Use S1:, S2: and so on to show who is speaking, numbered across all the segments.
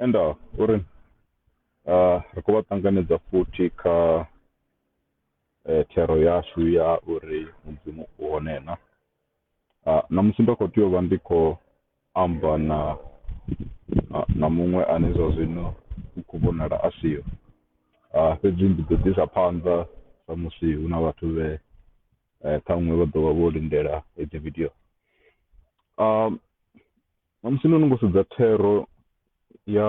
S1: and uh, uri uh, ri khou vha ṱanganedza futhi kha eh, thero yashu ya uri mudzimu u hone na Ah, na musi ndo khou tea u vha ndi khou amba na ah, na muṅwe ane zwa zwino u khou vhonala a siho Ah, fhedzi ndi ḓo ḓisa phanḓa sa musi hu na vhathu vhe eh, ṱhaṅwe vha ḓo vha vho lindela hedzi video Ah, na musi no no ngo sedza thero ya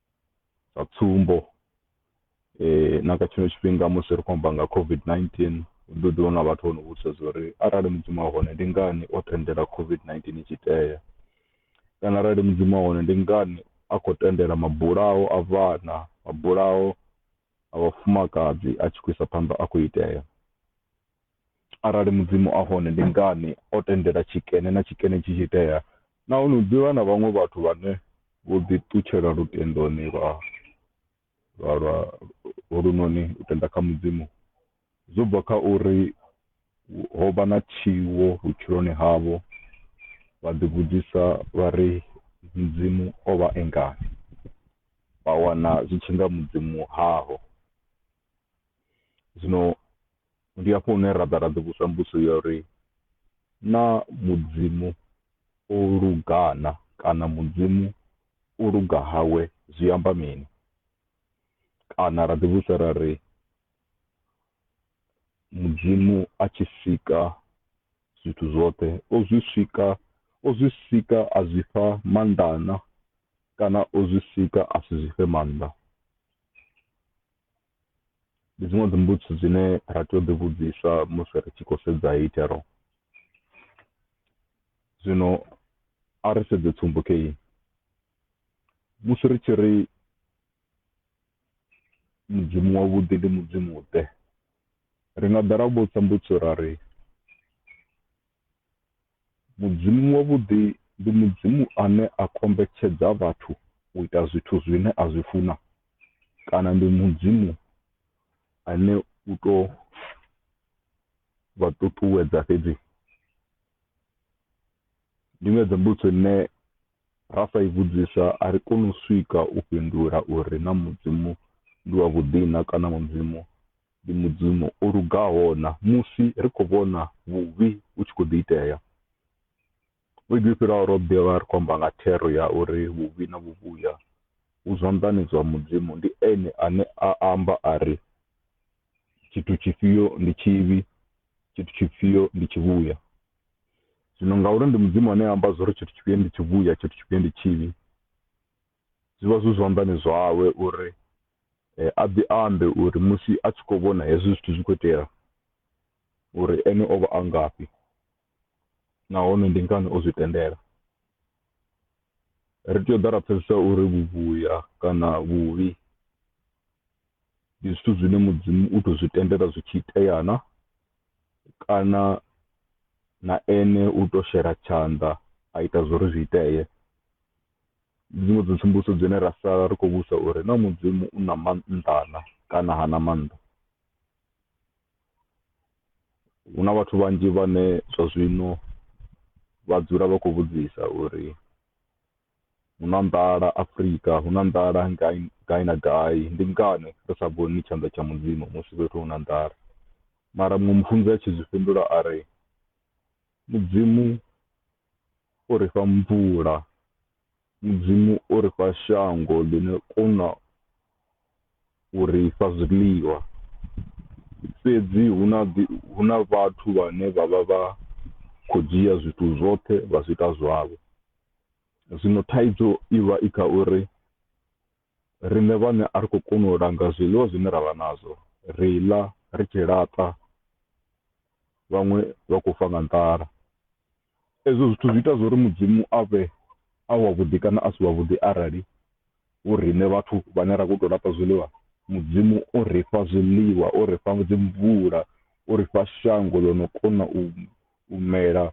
S1: sa tsumbo eh, na kha tshino tshifhinga musi ri khou amba nga covid-19 ndi ḓi wana vhathu vho no vhudzisa zwa uri arali mudzimu a hone ndi ngani o tendela covid-19 i tshi tea kana arali mudzimu a hone ndi ngani a khou tendela mabulaho a vhana mabulaho a vhafumakadzi a tshi khou isa phanḓa a khou itea Arali Mudzimu a hone, ndi ngani o tendela tshikene na tshikene tshi tshi itea? Nahone hu ḓi vha na vhaṅwe vhathu vhane vho ḓiṱutshela lutendoni lwa lwa lwa holunoni u tenda kha Mudzimu zwo bva kha uri ho vha na tshiwo vhutshiloni havho, vha ḓivhudzisa vha ri, Mudzimu o vha e ngani? Vha wana zwi tshi nga Mudzimu haho. Zwino Ndi hafho hune ra ḓa ra ḓi vhudzwa mbudzo ya uri na mudzimu o lugana kana mudzimu u luga hawe zwi amba mini kana ra ḓi vhudzwa ra ri mudzimu a tshi sika zwithu zwoṱhe o zwi sika o zwi sika a zwi fha maanḓana kana o zwi sika a si zwi fhe maanḓa ndi dziṅwe dzi mbudziso dzine ra tea u ḓi vhudziswa musi ri tshi khou sedza heyi thero zwino a ri sedze tsumbo kha iyi musi ri tshi ri mudzimu wavhuḓi ndi mudzimu ḓe ri nga ḓa ra vhudzisa mbudziso ra ri Mudzimu wavhuḓi ndi Mudzimu ane a kombetshedza vhathu u ita zwithu zwine a zwi funa kana ndi Mudzimu ane u to vha ṱuṱuwedza fhedzi? Ndi nga dza mbudziso ine ra sa i vhudzisa a ri koni u swika u fhindula uri na Mudzimu ndi wa vhuḓi na kana Mudzimu Ndi Mudzimu o lugaho-na musi ri khou vhona vhuvhi vhu tshi khou ḓi itea. Vhege yo fhiraho ro ḓi vha ri khou amba nga thero ya uri vhuvhi na vhuvhuya vhu zwanḓani zwa Mudzimu. Ndi ene ane a amba a ri, Tshithu tshifhio ndi tshivhi, tshithu tshifhio ndi tshivhuya. Zwino ngauri ndi Mudzimu ane a amba zwa uri tshithu tshifhio ndi tshivhuya, tshithu tshifhio ndi tshivhi, zwi vha zwi zwanḓani zwawe uri a ḓi ambe uri musi a tshi khou vhona hezwi zwithu zwi khou itea uri ene o vha a ngafhi nahone ndi ngani o zwi tendela. Ri tea u ḓa ra pfhesesa uri vhuvhuya kana vhuvhi ndi zwithu zwine Mudzimu u tou zwi tendela zwi tshi itea na, kana na ene u tou shela tshanḓa a ita zwo ri zwi itee. Ndi dziṅwe dza tsumbudzo dzine ra sala ri khou vhudzisa uri naa Mudzimu u na maanḓa-na kana ha na maanḓa? Hu na vhathu vhanzhi vhane zwa zwino vha dzula vha khou vhudzisa uri hu na nḓala Afrika, hu na nḓala gai, gai na gai. Ndi ngani ri sa vhoni tshanḓa tsha Mudzimu musi fhethu hu na nḓala? Mara muṅwe mufunzi a tshi zwi fhindula a ri, Mudzimu o ri fha mvula, Mudzimu o ri fha shango ḽi no kona u ri fha zwiḽiwa. Fhedzi hu na ḓi, hu na vhathu vhane vha vha vha khou dzhia zwithu zwoṱhe vha zwi ita zwavho. Zwino thaidzo i vha i kha uri Riṋe vhaṋe a ri khou kona u langa zwiḽiwa zwine ra vha nazwo, ri ḽa ri tshi laṱa vhaṅwe vha khou fa nga nḓala. Ezwo zwithu zwi ita zwo ri Mudzimu a vhe a wavhuḓi kana a si wavhuḓi arali hu riṋe vhathu vhane ra khou tou laṱa zwiḽiwa Mudzimu o ri fha zwiḽiwa, o ri fha dzi mvula, o ri fha shango ḽo no kona u mela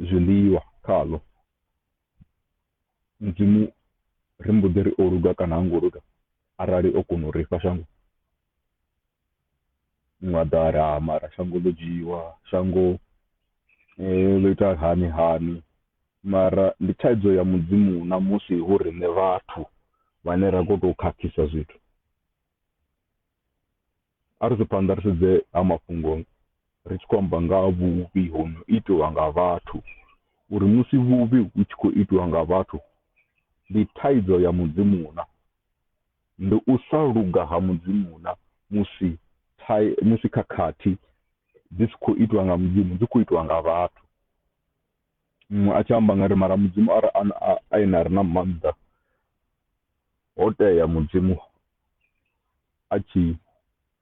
S1: zwiḽiwa khaḽo. Mudzimu ri mbo ḓi ri o luga kana ha ngo luga arali o kona u ri fha shango ḽa ḓala mara shango ḽo dzhiiwa, shango ḽo ita hani hani. Mara ndi thaidzo ya Mudzimu na musi hu riṋe vhathu vhane ra khou tou khakhisa zwithu. A ri ḓe phanḓa ri sedze ha mafhungo ri tshi khou amba nga ha vhuvhi ho no itiwa nga vhathu uri musi vhuvhi hu tshi khou itiwa nga vhathu ndi thaidzo ya Mudzimu na? Ndi u sa luga ha Mudzimu na musi thai musi khakhathi dzi si khou itiwa nga Mudzimu dzi khou itiwa nga vhathu? Muṅwe a tshi amba nga ri mara mudzimu a ene a re na maanḓa, ho tea mudzimu a tshi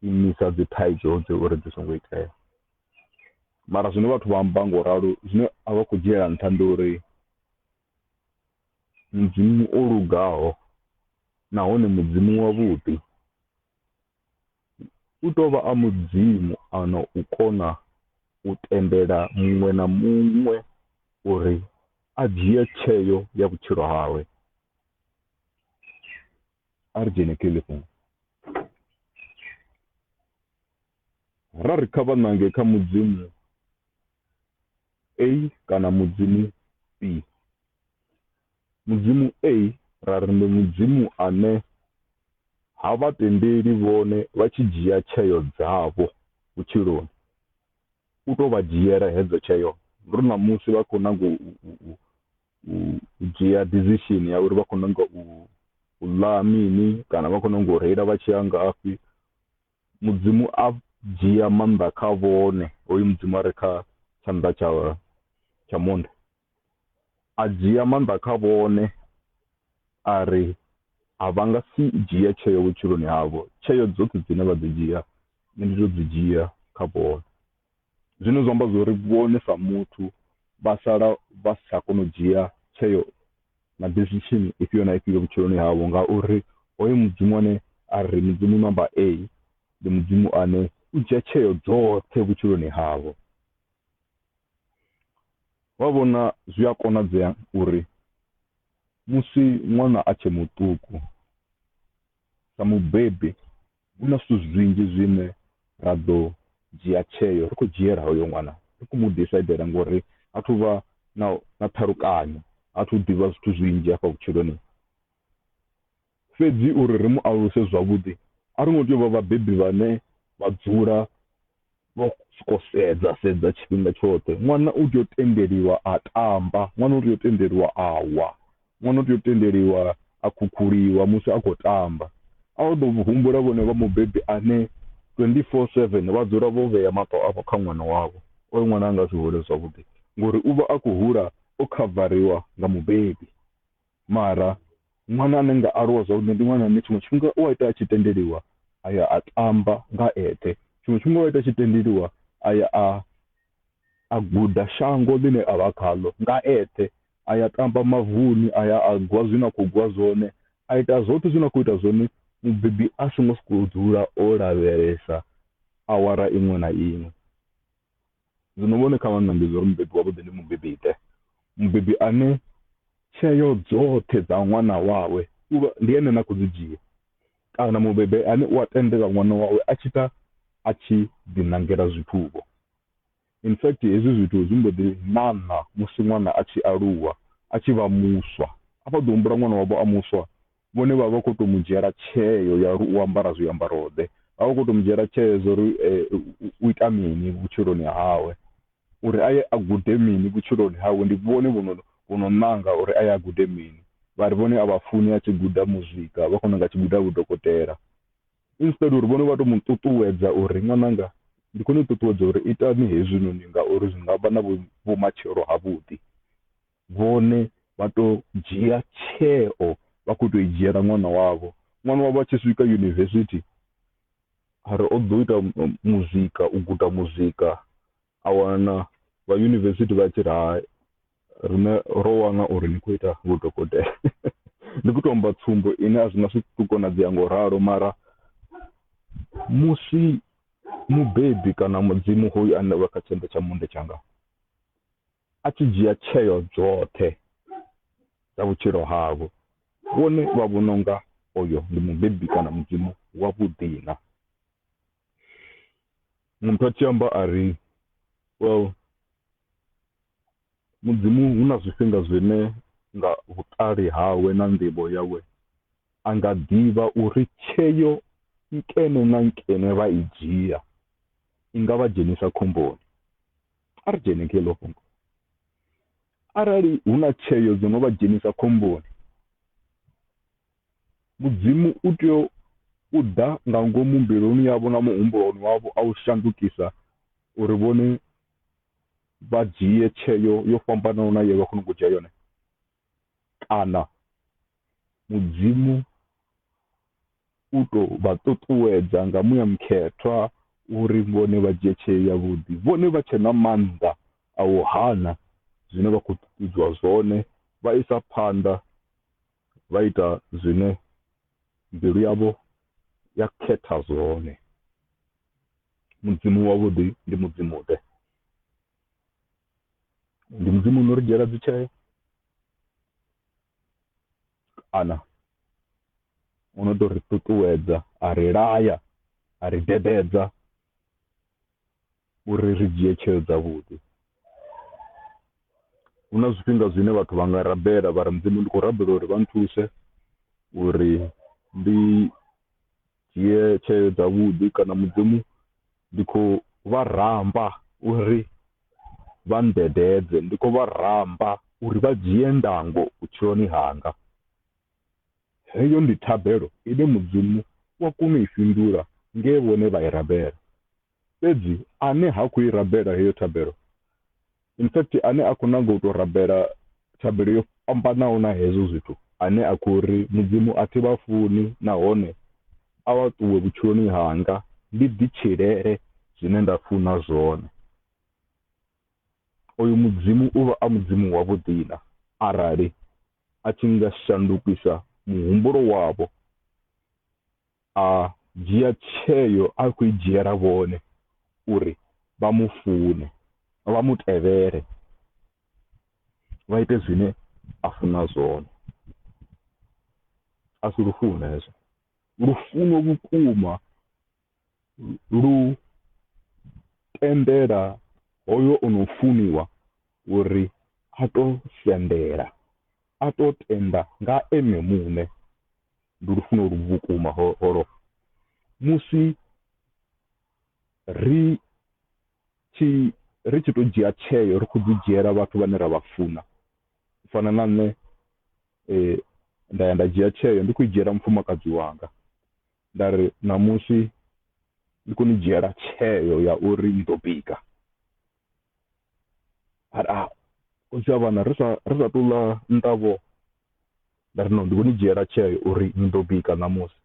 S1: imisa dzi thaidzo dzi uri dzi songo itea. Mara zwine vhathu vha amba ngo ralo zwine a vha khou dzhiela nṱha ndi uri mudzimu o lugaho nahone mudzimu wavhuḓi. u tou vha a Mudzimu a na u kona u tendela muṅwe na muṅwe uri a dzhie tsheo ya vhutshilo hawe. A ri dzhene kha iḽi fhungo. Ra ri kha vha ṋange kha Mudzimu A kana Mudzimu B. Mudzimu A, ra ri ndi Mudzimu ane ha vha tendeli vhone vha tshi dzhia tsheo dzavho vhutshiloni. U tou vha dzhiela hedzo tsheo. Ndi uri ṋamusi vha khou nanga u, u, u, u, u dzhia decision ya uri vha khou nanga u, u ḽa mini kana vha khou nanga u reila vha tshi ya ngafhi. Mudzimu a dzhia maanḓa kha vhone, hoyu Mudzimu a re kha tshanḓa tsha, tsha monde. a dzhia maanḓa kha vhone ari a vha nga si dzhia tsheo vhutshiloni havho tsheo dzoṱhe dzine vha ḓo dzhia nṋe ndi to dzi dzhia kha vhone zwine zwa amba zwori vhone sa muthu vha sala vha si tsha kona u dzhia tsheo na decision ifhio na ifhio vhutshiloni havho ngauri hoyo mudzimu ane a ri mudzimu number A ndi mudzimu ane u dzhia tsheo dzoṱhe vhutshiloni havho Vha vhona zwi a konadzea uri musi ṅwana a tshe muṱuku, sa mubebi hu na zwithu zwinzhi zwine ra ḓo dzhia tsheo ri khou dzhiela hoyo ṅwana, ri khou mu disaidela ngori ha thu vha na na ṱhalukanyo, ha thu ḓivha zwithu zwinzhi hafha vhutshiloni. Fhedzi uri ri mu aluse zwavhuḓi, a ro ngo tea u vha vhabebi vhane vha dzula vho sokou sedza sedza tshifhinga tshoṱhe. Ṅwana u tea u tendeliwa a tamba, ṅwana u tea u tendeliwa a wa, ṅwana u tea u tendeliwa a khukhuliwa musi a khou tamba. A u ḓo humbula vhenevho mubebi ane 24 seven vha dzula vho vhea maṱo avho kha ṅwana wavho, oyo ṅwana a nga si hule zwavhuḓi ngori u vha a khou hula o khavariwa nga mubebi. Mara ṅwana ane nga aluwa zwavhuḓi ndi ṅwana ane tshiṅwe tshifhinga u a ita a tshi tendeliwa a ya a tamba nga eṱhe. Tshiṅwe tshifhinga u a ita a tshi tendeliwa a ya a a guda shango ḽine a vha khaḽo nga eṱhe. A ya tamba mavuni, a ya a gwa zwine a khou gwa zwone, a ita zwoṱhe zwine a khou ita zwone mubebi a songo sokou dzula o lavhelesa awara iṅwe na iṅwe. Zwino vhone kha vha ṋange zwo ri mubebi wavhuḓi ndi mubebi-ḓe, mubebi ane tsheo dzoṱhe dza ṅwana wawe ndi ene na khou dzi dzhia, kana mubebi ane u a tendela ṅwana wawe a tshi ita a tshi ḓiṋangela zwithu-vho. In fact, hezwi zwithu zwi mbo ḓi ṋaṋa musi ṅwana a tshi aluwa, a tshi vha muswa. A vha ḓo humbula ṅwana wavho a muswa vhone vha vha khou tou mu dzhiela tsheo ya uri u ambara zwiambaro-ḓe. Vha vha vha khou tou mu dzhiela tsheo zwa uri u ita mini vhutshiloni hawe, uri a ye a gude mini vhutshiloni hawe. Ndi vhone vho no vho no ṋanga uri a ye a gude mini, vha ri vhone a vha funi a tshi guda muzika, vha khou nyaga a tshi guda vhudokotela. Instead uri vhone vha tou mu ṱuṱuwedza uri ṅwananga ndi khou ni ṱuṱuwedza uri itani hezwinoni ngauri zwi nga vha na vhumatshelo havhuḓi. vhone vha to dzhia tsheo vha kho to i dzhiela ṅwana wavho ṅwana wavho a tshi swika university ari o ḓo ita muzika u guda muzika a wana vha university vha tshi ri hai rine ro wana uri ni kho ita vhudokotela ndi kho to amba tsumbo ine a zwi nga si to konadzea ngo ralo mara musi mubebi kana mudzimu hoyu ane vha kha tshanḓa tsha monde tshanga a tshi dzhia tsheo dzoṱhe dza vhutshilo havho, vhone vha vhona unga oyo ndi mubebi kana mudzimu wa vhuḓi na. Muthu a tshi amba a ri well mudzimu hu na zwifhinga zwine nga vhuṱali hawe na nḓivho yawe a nga ḓivha uri tsheo nkene na nkene vha i dzhia i nga vha dzhenisa khomboni. A ri dzhene kha iḽo fhungo. Arali hu na tsheo dzo no vha dzhenisa khomboni, Mudzimu u tea u ḓa nga ngomu mbiluni yavho na muhumbuloni wavho a u shandukisa uri vhone vha dzhie tsheo yo fhambanaho na ye vha khou no ngo dzhia yone. Kana Mudzimu u tou vha ṱuṱuwedza nga muya mukhethwa uri vhone vha dzhie tsheo yavhuḓi, vhone vha tshe na maanḓa a u hana zwine vha khou ṱuṱuwedzwa zwone, vha isa phanḓa vha ita zwine mbilu yavho ya khetha zwone. Mudzimu wavhuḓi ndi Mudzimu-ḓe? ndi mudzimu uno ri dzhiela dzitsheo kana u no tou ri ṱuṱuwedza a ri laya a ri dededza uri ri dzhie tsheo dzavhuḓi hu na zwifhinga zwine vhathu vha nga rabela vha ri mudzimu ndi khou rabela uri vha nthuse uri ndi dzhie tsheo dza vhuḓi kana mudzimu ndi kho vha ramba uri vha nndededze ndi kho vha ramba uri vha dzhie ndango vhutshiloni hanga heyo ndi thabelo ine mudzimu wa kona u i fhindula nge vhone vha i rabela Fhedzi ane ha khou i rabela heyo thabelo, in fact ane a khou nanga u tou rabela thabelo yo fhambanaho na hezwo zwithu, ane a khou ri, Mudzimu, a thi vha funi, nahone a vha ṱuwe vhutshiloni hanga, ndi ḓitshilele zwine nda funa zwone, oyo Mudzimu u vha a Mudzimu wavhuḓi-na arali a tshi nga shandukisa muhumbulo wavho a dzhia tsheo a khou i dzhiela vhone uri vha mu fune vha mu tevhele vha ite zwine a funa zwone a si lufuno hezwo lufuno vhukuma lu tendela hoyo o no funiwa uri a to sendela a to tenda nga ene muṋe. ndi lufuno lu vhukuma holo musi ri tshi ri tshi to dzhia tsheo ri kho ḓi dzhiela vhathu vhane ra vha funa u fana na nṋe eh nda ya nda dzhia tsheo ndi khou dzhiela mufumakadzi wanga nda ri ṋamusi ndi kho ni dzhiela tsheo ya uri ni ḓo bika ari a u tshi a vhana ri sa ri sa tou ḽa nṱavho nda ri no ndi khou ni dzhiela tsheo uri ni ḓo bika ṋamusi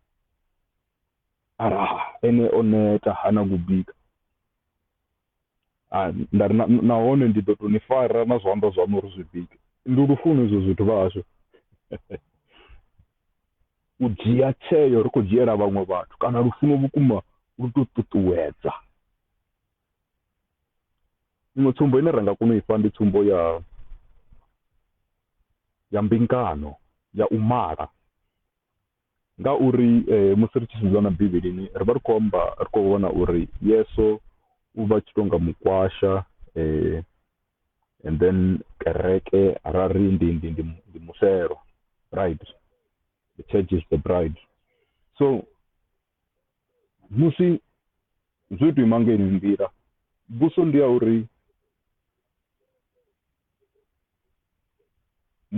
S1: ari a ene o neta ha na kubika a nda ri nahone ndi ḓo tou ni fara na zwanḓa zwaṋu uri zwi bike ndi lufuno izwo zwithu vha hashu u dzhia tsheo ri khou dzhiela vhaṅwe vhathu kana lufuno vhukuma lu tou ṱuṱuwedza Iṅwe tsumbo ine ra nga kona u ifha ndi tsumbo ya ya mbingano ya u mala, ngauri musi ri tshi sedza na Bivhilini ri vha ri khou amba ri khou vhona uri Yesu u vha tshi tonga mukwasha and then kereke ra ri ndi ndi ndi ndi musevhe right, the church is the bride so. musi zwo tou ima ngeyi nḓila mbuso ndi ya uri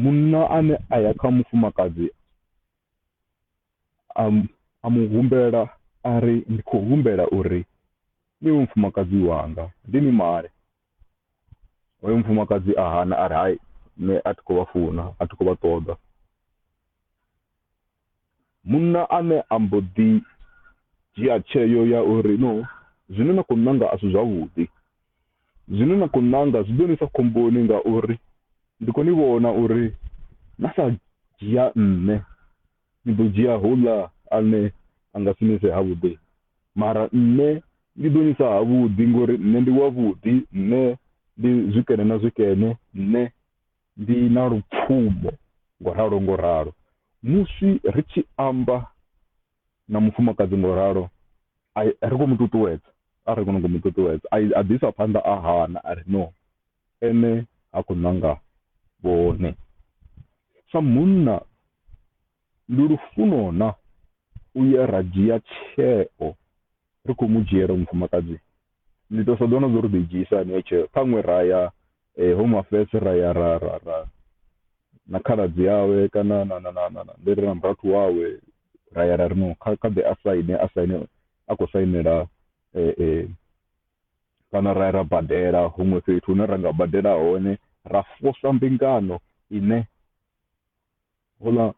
S1: munna ane a ya kha mufumakadzi a mu humbela a ri ndi khou humbela uri ni vhe mufumakadzi wanga ndi ni male hoyo mufumakadzi a hana a ri hai nṋe a thi khou vha funa a thi khou vha ṱoḓa Munna ane a mbo ḓi dzhia tsheo ya uri, No, zwine na khou nanga a si zwavhuḓi. Zwine na khou nanga zwi ḓo ni isa khomboni ngauri ndi khou ni vhona uri na sa dzhia nṋe, ni ḓo dzhia houḽa ane a nga si ni ise havhuḓi. Mara nṋe ndi ḓo ni isa havhuḓi ngori nṋe ndi wavhuḓi, nṋe ndi zwikene na zwikene, nṋe. Ndi na lupfumo, ngo ralo ngo ralo. Musi ri tshi amba na mufumakadzi ngo ralo, a ri khou mu ṱuṱuwedza, a ri khou nyanga u mu ṱuṱuwedza. A a ḓi isa phanḓa a hana a ri no, ene ha khou nanga vhone. Sa munna, ndi lufuno-na u ya ra dzhia tsheo ri khou mu dzhiela mufumakadzi? Ndi tou sa ḓivha na zwa uri ri ḓo i dzhiisa hani heyo tsheo, ṱhaṅwe ra ya Home Affairs ra ya ra ra ra na khaladzi awe kana na na na na na ndi ri na murathu wawe ra ya ra ri no kha kha ḓe a saine a saine a khou sainela kana ra ya ra badela huṅwe fhethu hune ra nga badela hone ra posa mbingano ine. Houḽa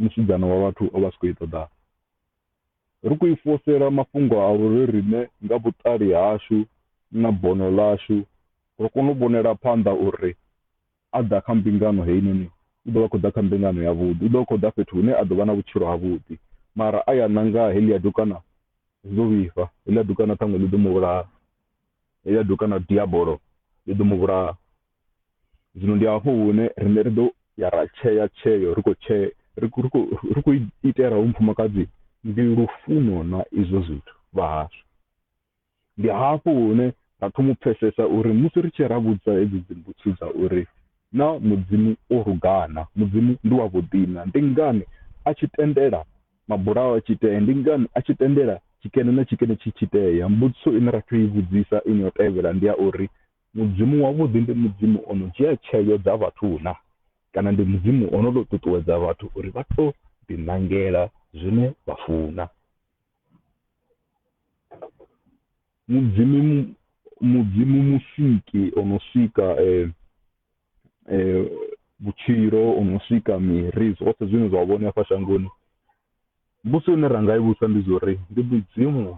S1: musidzana wa vhathu o vha a si khou i ṱoḓa. Ri khou i fosela mafhungo a uri riṋe nga vhuṱali hashu na bono ḽashu ro kona u vhonela phanḓa uri a ḓa kha mbingano heinoni u ḓo vha a khou ḓa kha mbingano yavhuḓi, u ḓo vha a khou ḓa fhethu hune a ḓo vha na vhutshilo havhuḓi. Mara a ya ṋanga heḽia dukana zwi ḓo vhifha, heḽia dukana ṱhaṅwe ḽi ḓo mu vhulaha, heḽia dukana diabolo ḽi ḓo mu vhulaha. zwino ndi hafho hune rine ri ḓo ya ra tshea tsheo ri khou tshea ri khou itela hu mufumakadzi ndi lufuno na izwo zwithu vha hashu ndi hafho hune ra thoma u pfesesa uri musi ri tshi ra vhudza hedzi dzimbutsho dza uri na mudzimu o rugana mudzimu ndi wa vhuḓina ndi ngani a tshi tendela mabulaho a tshi itea ndi ngani a tshi tendela tshikene na tshikene tshi tshi itea mbudziso ine ra tea u i vhudzisa ine yo tevhela ndi ya uri Mudzimu wavhuḓi ndi Mudzimu o no dzhia tsheo dza vhathu na? Kana ndi Mudzimu o no tou ṱuṱuwedza vhathu uri vha tou ḓiṋangela zwine vha funa? Mudzimu Mudzimu Musiki o no sika vhutshilo, o no sika miri, zwoṱhe zwine zwa vhone hafha shangoni. Mbudziso ine ra nga i vhudzisa ndi zwa uri ndi Mudzimu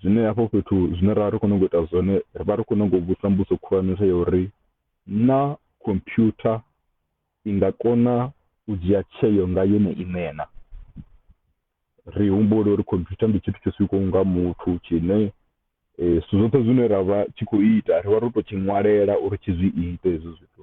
S1: Zwine hafho fhethu zwine ra vha ri khou nyaga u ita zwone, ri vha ri khou nyaga u vhusa mbudzo khulwanesa ya uri naa khomphyutha i nga kona u dzhia tsheo nga yone iṋe na? Ri humbule uri khomphyutha ndi tshithu tsho sikwaho nga muthu tshine zwithu zwoṱhe zwine ra vha tshi khou ita ri vha ro tou tshi ṅwalela uri tshi zwi ite hezwo zwithu.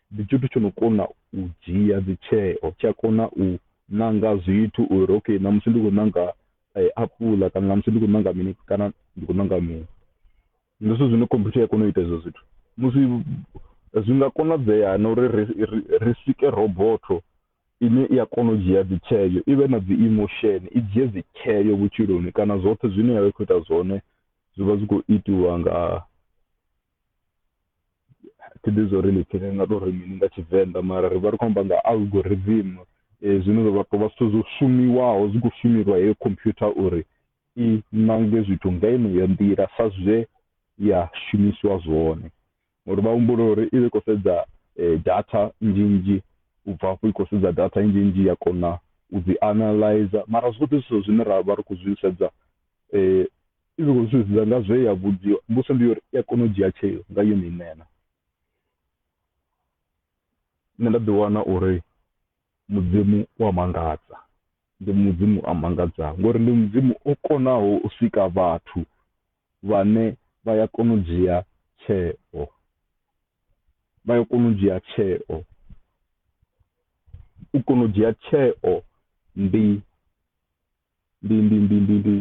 S1: Ndi tshithu tsho no kona u dzhia dzi tsheo, tsha kona u ṋanga zwithu uri okay ṋamusi ndi khou ṋanga apuḽa kana ṋamusi ndi khou ṋanga mini kana ndi khou ṋanga mini. Ndi zwithu zwine computer i ya kona u ita hezwo zwithu musi zwi nga konadzea na uri ri ri ri sike robotho ine i a kona u dzhia dzi tsheo i vhe na dzi emotion i dzhie dzi tsheo vhutshiloni kana zwoṱhe zwine ya vha i khou ita zwone zwi vha zwi khou itiwa nga. thi ḓivhi zwa uri ḽi pfhi ni nga tou ri mini nga Tshivenḓa mara ri vha ri khou amba nga algorithm zwine zwa tou vha zwithu zwo shumiwaho zwi khou shumelwa heyo computer uri i ṋange zwithu nga yeneyo nḓila sa zwe ya shumisiwa zwone. Ngori vha humbula uri i vha i khou sedza data nnzhi nnzhi u bva afho i khou sedza data nnzhi nnzhi ya kona u dzi analyzer mara zwoṱhe zwithu zwine ra vha ri khou zwi sedza . I tshi khou sumbedza nga zwe ya vhudziwa, mbudziso ndi ya uri i a kona u dzhia tsheo nga yone iṋe na? Nṋe nda ḓiwana uri Mudzimu u a mangadza, ndi Mudzimu a mangadzaho ngori ndi Mudzimu o konaho u sika vhathu vhane vha ya kona u dzhia tsheo, vha ya kona u dzhia tsheo. U kona u dzhia tsheo ndi ndi ndi ndi ndi ndi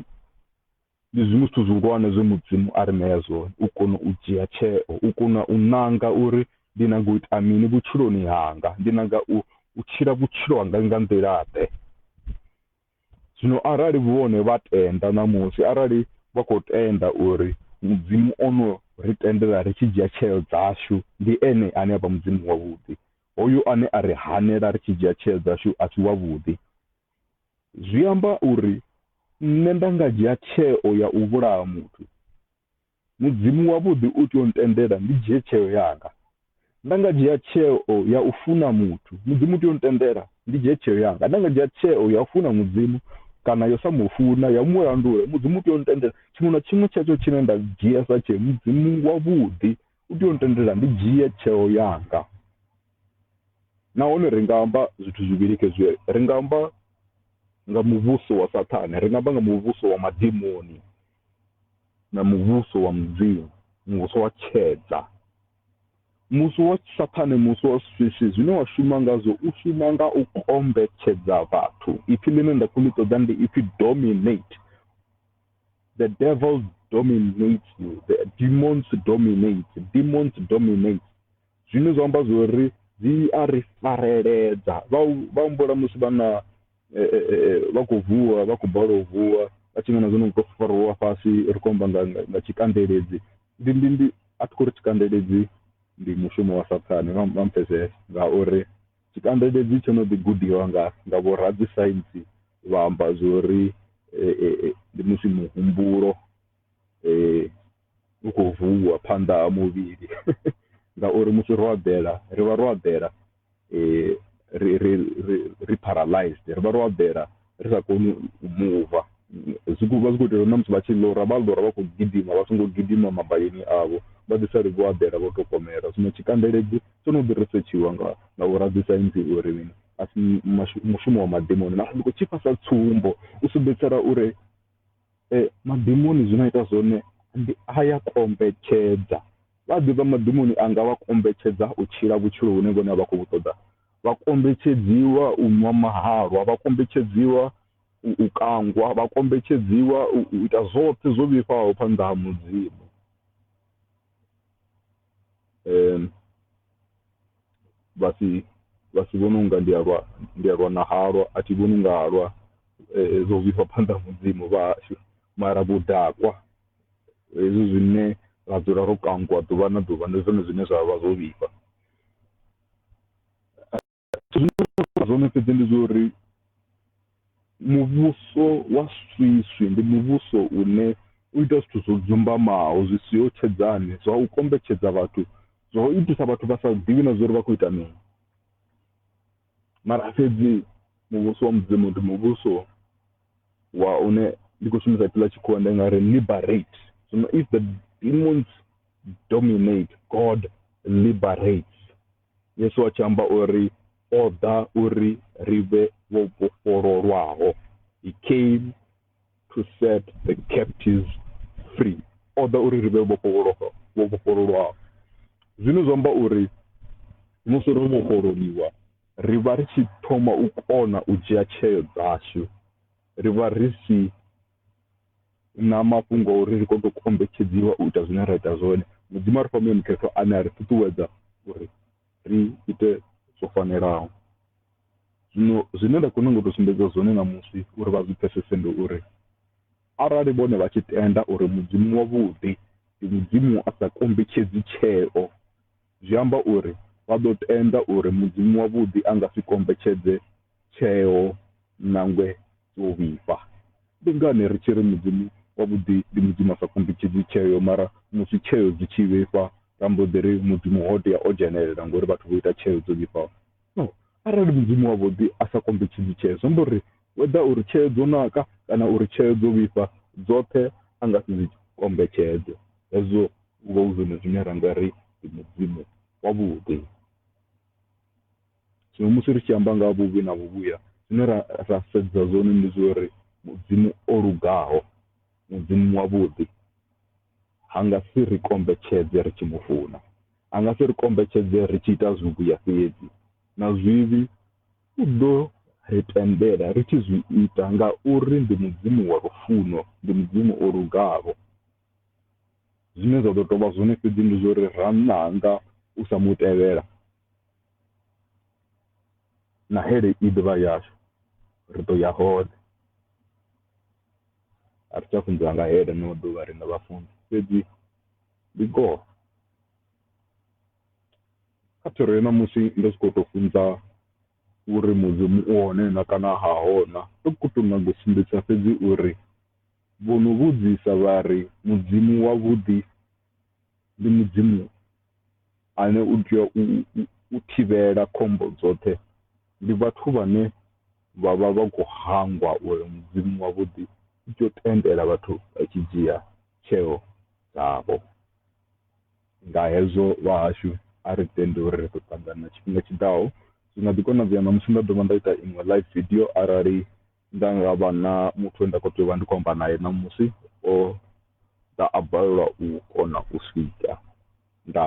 S1: ndi zwiṅwe zwithu zwihulwane zwe mudzimu a ri ṋea zwone u kona u dzhia tsheo u kona u nanga uri ndi nanga u ita mini vhutshiloni hanga ndi nanga u u tshila vhutshilo hanga nga nḓila ḓe zwino arali vhone vha tenda ṋamusi arali vha khou tenda uri mudzimu ono ri tendela ri tshi dzhia tsheo dzashu ndi ene ane a vha mudzimu wavhuḓi hoyu ane a ri hanela ri tshi dzhia tsheo dzashu a si wavhuḓi zwi amba uri nṋe nda nga dzhia tsheo ya u vhulaha muthu mudzimu wavhuḓi u tea u ntendela ndi dzhie tsheo yanga nda nga dzhia tsheo ya u funa muthu mudzimu u tea u ntendela ndi dzhie tsheo yanga nda nga dzhia tsheo ya u funa mudzimu kana yo sa mu funa ya mu landula mudzimu u tea u ntendela tshiṅwe na tshiṅwe tshetsho tshine nda dzhia sa tsheo mudzimu wavhuḓi u tea u ntendela ndi dzhie tsheo yanga. Nahone ri nga amba zwithu zwivhili khezwi, ri nga amba nga muvhuso wa Saṱhane, ri nga amba nga muvhuso wa madimoni na muvhuso wa Mudzimu, muvhuso wa tshedza. Muvhuso wa Saṱhane, muvhuso wa swiswi, zwine wa shuma ngazwo u shuma nga u kombetshedza vhathu. Ipfi ḽine nda khou ḽi ṱoḓa ndi ipfi dominate. The devil dominates you, the demons dominate, demons dominate. Zwine zwa amba zwo ri dzi a ri fareledza, vha vha humbula musi vhanna vha khou vuwa, vha khou balelwa u vuwa, vha tshi nga na zwino u tou fariwa fhasi ri khou amba nga nga tshikandeledzi. Ndi ndi ndi, a thi khou ri tshikandeledzi ndi mushumo wa Saṱhane, vha vha mpfesese ngauri tshikandeledzi tsho no ḓi gudiwa nga nga vhoradzisaintsi vha amba zwo ri ndi musi muhumbulo u khou vuwa phanḓa ha muvhili ngauri musi ro eḓela ri vha ro eḓela ri ri ri ri paralyzed ri vha ro eḓela ri sa koni u muva. Zwi khou vha zwi khou itela uri na musi vha tshi ḽora vha ḽora vha khou gidima vha songo gidima mabayoni avho vha ḓi sale vho eḓela vho tou komolela. Zwino tshikandeledzi tsho no ḓi risetshiwa nga nga vho radzisaintsi uri mini asi mushumo wa madimoni mara ndi khou tshifha sa tsumbo u sumbedzisela uri. Madimoni zwine a ita zwone ndi a ya kombetshedza vha ḓivha madimoni anga vha kombetshedza u tshila vhutshilo hune vhone a vha khou ṱoḓa vha kombetshedziwa u ṅwa mahalwa vha kombetshedziwa u kangwa vha kombetshedziwa u ita zwoṱhe zwo vhifhaho phanḓa ha mudzimu. um vha si vha si vhone unga ndi a lwa ndi a lwa na halwa a thi vhoni unga halwa zwo vhifha phanḓa ha mudzimu vhashu mara vhudakwa hezwi zwine ra dzula ro kangwa ḓuvha na ḓuvha ndi zwone zwine zwavha zwo vhifha. Zwine nda nga amba zwone fhedzi ndi zwa uri muvhuso wa swiswi ndi muvhuso une u ita zwithu zwo dzumbamaho zwi siho tshedzani zwa u kombetshedza vhathu zwa u itisa vhathu vha sa ḓivhi na zwa uri vha khou ita mini. Mara fhedzi muvhuso wa mudzimu ndi muvhuso wa une ndi khou shumisa ipfhi ḽa tshikhuwa ndi nga ri liberate zwino if the demons dominate God liberates. Yesu a tshi amba o ri, O ḓa uri ri vhe vho vhofhololwaho. He came to set the captives free. O ḓa uri ri vhe vho vhofhololwaho. Zwine zwa amba uri musi ro vhofhololiwa, ri vha ri tshi thoma u kona u dzhia tsheo dzashu. Ri vha ri si na mafhungo a uri ri kone u kombetshedziwa u ita zwine ra ita zwone mudzimu a ri fha muya mukhethwa ane a ri ṱuṱuwedza uri ri ite zwo fanelaho zwino zwine nda kona ngo tou sumbedza zwone ṋamusi uri vha zwi pfesese ndi uri arali vhone vha tshi tenda uri mudzimu wavhuḓi ndi mudzimu a sa kombetshedzi tsheo Zwi amba uri vha ḓo tenda uri Mudzimu wavhuḓi a nga si kombetshedze tsheo nangwe dzo vhifha. Ndi ngani ri tshi ri Mudzimu wavhuḓi ndi Mudzimu a sa kombetshedzi tsheo mara musi tsheo dzi tshi vhifha ra mbo ḓi ri Mudzimu ho tea o dzhenelela ngauri vhathu vho ita tsheo dzo vhifhaho? Zwino arali Mudzimu wavhuḓi a sa kombetshedzi tshee, zwi amba uri whether uri tshee dzo naka kana uri tshee dzo vhifha, dzoṱhe a nga si dzi kombetshedze. Hezwo hu vha hu zwone zwine ra nga ri ndi Mudzimu wavhuḓi. Zwino musi ri tshi amba nga ha vhuvhi na vhuvhuya, zwine ra ra sedza zwone ndi zwa uri Mudzimu o lugaho, Mudzimu wavhuḓi. A nga si ri kombetshedze ri tshi mu funa. A nga si ri kombetshedze ri tshi ita zwivhuya fhedzi. Na zwivhi u ḓo ri tendela ri tshi zwi ita ngauri ndi Mudzimu wa lufuno, ndi Mudzimu o lugaho. Zwine zwa ḓo tou vha zwone fhedzi ndi zwa uri ra nanga u sa mu tevhela, na hell i ḓo vha yashu, ri ḓo ya hone. a ri tsha funziwa nga he ḽeneḽo ḓuvha riṋe vhafunzi fhedzi ndi ngoho kha thero ya ṋamusi ndo sokou tou funza uri Mudzimu u hone na kana ha ho na, ndo khou tou nyaga u sumbedzisa fhedzi uri vho no vhudzisa vha ri, Mudzimu wavhuḓi? ndi Mudzimu ane u tea u u thivhela khombo dzoṱhe ndi vhathu vhane vha vha vha khou hangwa uri Mudzimu wavhuḓi u tea u tendela vhathu vha tshi dzhia tsheo dzavho. Nga hezwo vhahashu a ri tendi uri ri ḓo ṱangana tshifhinga tshiḓaho zwi nga ḓi konadzea ṋamusi nda dovha nda ita iṅwe live video arali Nda nga vha na muthu we nda khou tea u vha ndi khou amba nae ṋamusi o ḓa a balelwa u kona u swika nda.